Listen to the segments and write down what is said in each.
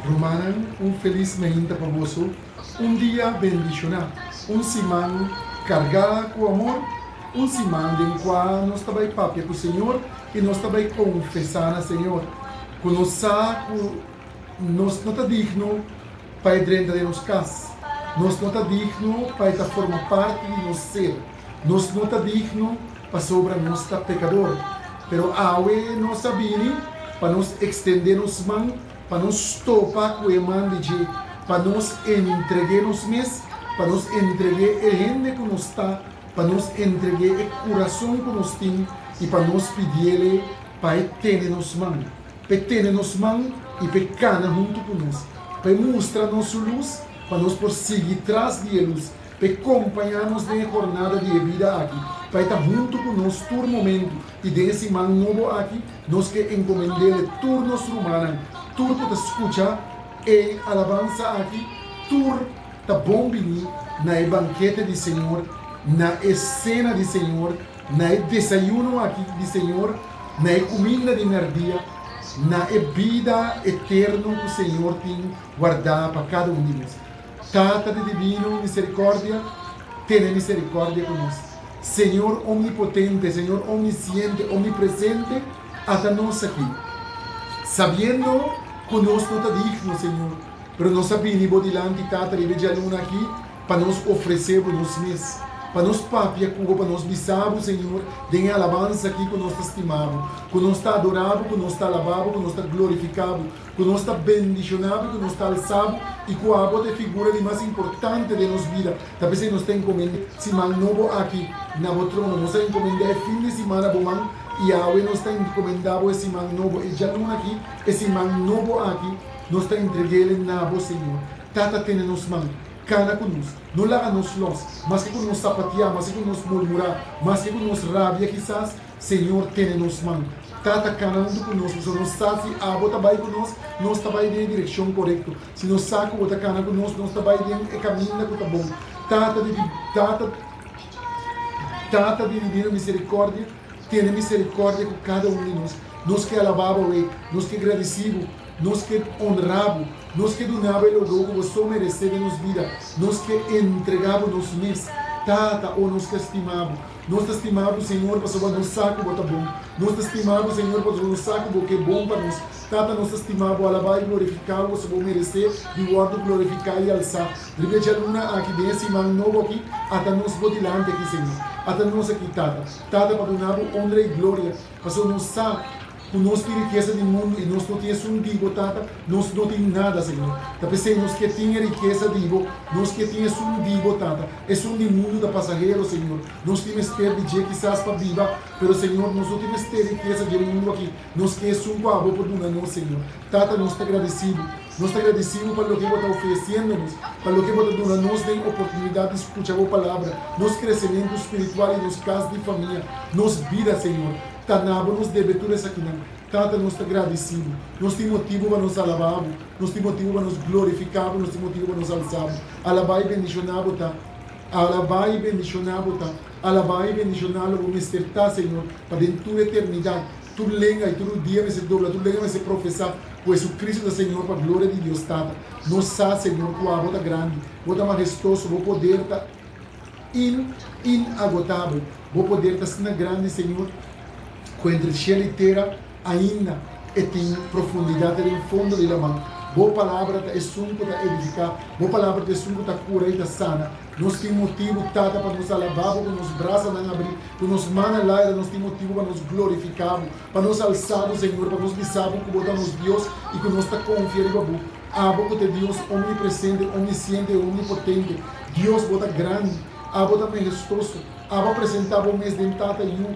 Rumannan, un felis mainta pa boso, un dia bendishoná, un siman kargá ku amor, un siman den kua nos ta bai papia ku Señor i nos ta bai konfesá na Señor ku nos sa ku Nos no ta digno pa e drenta den nos kas. Nos no ta digno pa e ta forma parti di nos ser. Nos no ta digno pasobra nos ta pekador. Pero awe nos a bini pa nos ekstendé nos man pa nos topa ku e man di dje, pa nos entreg'é nos mes, pa nos entreg'é e hende ku nos ta, pa nos entreg'é e kurason ku nos tin i pa nos pidiéle pa e tene nos man. p'e tene nos man i p'e kana huntu ku nos, p'e mustra nos su lus, pa nos por sigui tras di e lus, p'e kompañá nos den e hornada di e bida aki, pa e ta huntu ku nos tur momentu, i den e siman nobo aki nos ke enkomend'Ele tur nos rumannan, tur ku ta skucha e alabansa aki, tur ta bon bini na e bankete di Señor, na e sena di Señor, Na e desayuno aki di Señor, na e cuminda di merdia, na e bida eterno cu Señor tin warda pa cada un di nos. Tata di divino misericordia, tene misericordia cu nos. Señor Omnipotente, Señor Omnisciente, Omnipresente, ata nos aki, sabiendo cu nos no ta digno, Señor, pero nos a bini Bo dilanti, Tata, riba e djaluna aki, pa nos ofresé Bo nos mes, pa nos papia ku Bo, pa nos bisa Bo, Señor, den e alabansa akí ku nos ta stima Bo, ku nos ta adorá Bo, ku nos ta alabá Bo, ku nos ta glorifiká Bo, ku nos ta bendishoná Bo i ku nos ta alsá Bo, i ku abo ta e figura di mas importante den nos bida. Ta p'esei nos ta enkomend'é siman nobo akí na Bo trono. Nos a enkomend'é e fin di simana Bo man, i awe nos ta enkomendá Bo e siman nobo, e djaluna akí, e siman nobo akí, nos ta entreg'é na Bo, Señor. Tata tene nos man, kana ku nos, no laga nos lòs, maske ku nos sapatiá, maske ku nos murmurá, maske ku nos rabia kisas, Señor tene nos man. Tata kana huntu ku nos, pasobra nos sa si abo ta bai ku nos, nos ta bai den e direkshon korekto. Si nos sa ku bo ta kana ku nos, nos ta bai den e kaminda ku ta bon. Tata di Tata, Tata di Dibino Miserikòrdia, tene miserikòrdia ku kada un di nos. Nos ke alabá bo, Rei. Nos ke gradisí bo. Nos ke onrá bo. Nos ke dunabo e lobou ku bo so meresé den nos bida. Nos ke entrega bo nos mes, Tata. O nos ke stima bo. Nos ta stima bo, Señor, pasobra nos sa ku bo ta bon. Nos ta stima bo, Señor, pasobra nos sa ku bo ke bon pa nos. Tata, nos ta stima bo, alabá i glorifiká bo, pasobra bo meresé di wòrdu glorifiká i alsá. Riba e djaluna aki, den e siman nobo aki, ata nos bo dilanti aki, Señor. Ata nos aki, Tata. Tata, pa duna bo onra i gloria, pasobra nos sa. Cu nos tin riqueza di mundo y nos no tin esun di Bo, Tata, nos no tin nada, Señor. Ta p'esey nos kier tin e riqueza di Bo. Nos kier tin esun di Bo, Tata. Esun di mundo ta pasahero, Señor. Nos tin mester di dje kisas pa biba, pero, Señor, nos no tin mester riqueza dje mundo aki. Nos kier esun cu Abo por duna nos, Señor. Tata, nos ta gradici Bo. Nos ta gradici Bo pa loke Bo ta ofreciendo nos, pa loke Bo ta duna nos den oportunidad di scucha Bo Palabra, nos crecemento spiritual y nos cas di famia, nos bida, Señor. ta na bo nos debe tur esakinan. Tata, nos ta gradisí bo. Nos tin motibu pa nos alabá bo. Nos tin motibu pa nos glorifiká bo. Nos tin motibu pa nos alsá bo. Alabá i bendishoná bo ta. Alabá i bendishoná bo ta. Alabá i bendishoná lo bo mester ta, Señor, pa den tur eternidat. Tur lenga i tur rudia mester dobla, tur lenga mester profesá ku Hesucristo ta Señor pa gloria di Dios Tata. Nos sa, Señor, ku abo ta grandi, bo ta mahestoso, bo poder ta. In in agotabel Bo poder ta sna grandi Señor Cu entre e cielo y tera Ainda e tin profundidad Ri'en fondo di la mar Bo palabra ta esun cu ta edifica Bo palabra ta esun cu ta cura y ta sana Nos tin motibu Tata pa nos alaba Bo cu nos brasanan abri Cu nos mannan laira Nos tin motibu pa nos glorifica Bo Pa nos alsa Bo Señor Pa nos bisa Bo cu Bo ta nos Dios Y cu nos ta confia riba Bo. Abo ku ta Dios omnipresente, omnisciente i omnipotente. Dios, bo ta grandi. Abo ta mahestoso. Abo a presentá bo mes den Tata, Yu,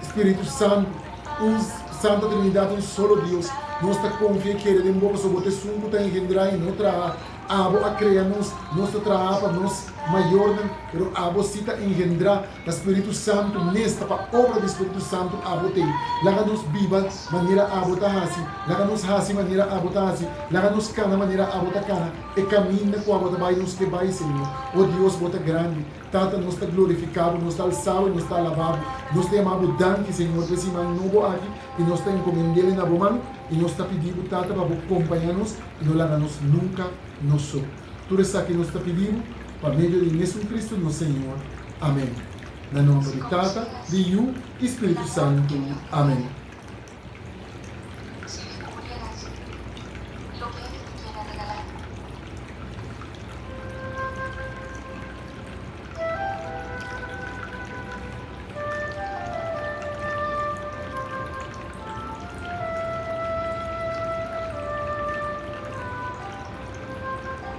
Spiritu Santu, un Santa Trinidat, un solo Dios. Nos ta konfia i kere den bo pasobra bo ta Esun ku ta engendrá i no traha. Abo a krea nos. Nos ta traha pa nos mayornan, pero abo sí ta engendrá. Ta Spiritu Santu mester pa obra di Spiritu Santu abo t'ei. Laga nos biba manera abo ta haci, laga nos haci manera abo ta haci, laga nos cana manera abo ta cana e caminda cu abo ta bai nos ke bai Señor. O Dios bo ta grandi, Tata nos ta glorifica bo, nos ta alza bo y nos ta alaba bo. Nos ta yama bo danki Señor p'e siman nobo aki y nos ta encomend'el e na bo man y nos ta pidi bo Tata pa bo compaña nos y no laga nos nunca no so. Tur esaki nos ta pidi Bo, pa medio di mesun Cristo nos Señor. Amen. Na nomber di Tata, di Yu i Spiritu Santu. Amen.